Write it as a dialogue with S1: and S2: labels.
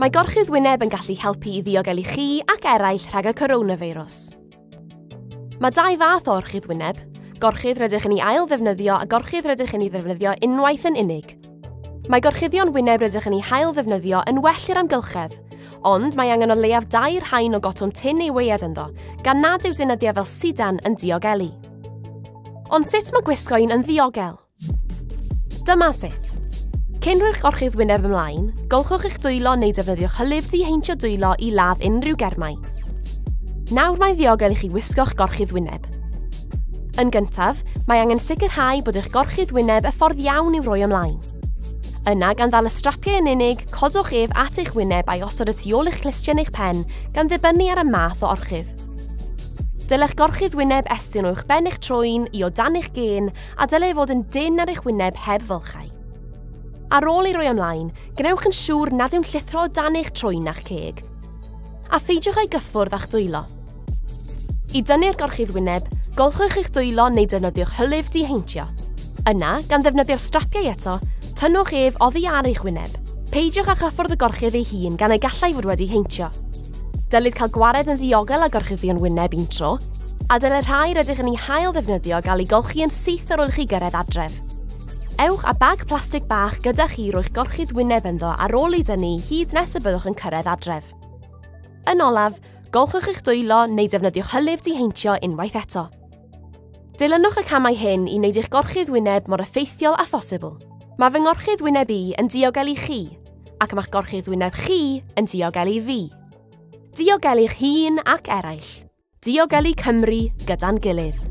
S1: Mae gorchudd wyneb yn gallu helpu i ddiogelu chi ac eraill rhag y coronafeirws. Mae dau fath o orchudd wyneb, gorchudd rydych yn ei ail ddefnyddio a gorchudd rydych yn ei ddefnyddio unwaith yn unig. Mae gorchuddion wyneb rydych yn ei hail ddefnyddio yn well i'r amgylchedd, ond mae angen o leiaf dair haen o gotwm tin ei weiad ynddo, gan nad yw deunyddiau fel sidan yn diogelu. Ond sut mae gwisgo un yn ddiogel? Dyma sut. Cyn rhoi'ch gorchudd wyneb ymlaen, golchwch eich dwylo neu defnyddiwch hylif diheintio dwylo i ladd unrhyw germau. Nawr mae'n ddiogel i chi wisgo'ch gorchudd wyneb. Yn gyntaf, mae angen sicrhau bod eich gorchudd wyneb y ffordd iawn i'w roi ymlaen. Yna, gan ddal y strapiau yn unig, codwch ef at eich wyneb a'i osod y tu ôl eich clustiau neu'ch pen, gan ddibynnu ar y math o orchudd. Dylech gorchudd wyneb estyn o'ch ben eich troi'n i o dan eich gên a dylai fod yn dynn ar eich wyneb heb fylchau. Ar ôl ei roi ymlaen, gwnewch yn siŵr nad yw'n llithro o dan eich trwyn na'ch ceg. A pheidiwch â'i gyffwrdd â'ch dwylo. I dynnu'r gorchudd wyneb, golchwch eich dwylo neu defnyddiwch hylif diheintio. Yna, gan ddefnyddio'r strapiau eto, tynnwch ef oddi ar eich wyneb. Peidiwch â chyffwrdd y gorchudd ei hun gan ei gallai fod wedi heintio. Dylid cael gwared yn ddiogel â gorchuddion wyneb un tro, a dylai'r rhai rydych yn ei hail ddefnyddio gael ei golchi yn syth ar ôl i chi gyrraedd adref. Ewch â bag plastig bach gyda chi rwy'ch gorchudd wyneb ynddo ar ôl ei dynnu hyd nes y byddwch yn cyrraedd adref. Yn olaf, golchwch eich dwylo neu defnyddiwch hylif diheintio unwaith eto. Dilynwch y camau hyn i wneud eich gorchudd wyneb mor effeithiol â phosibl. Mae fy ngorchudd wyneb i yn diogel i chi, ac ma'ch gorchudd wyneb chi yn diogelu fi. Diogelu'ch hun ac eraill. Diogelu Cymru gyda'n gilydd.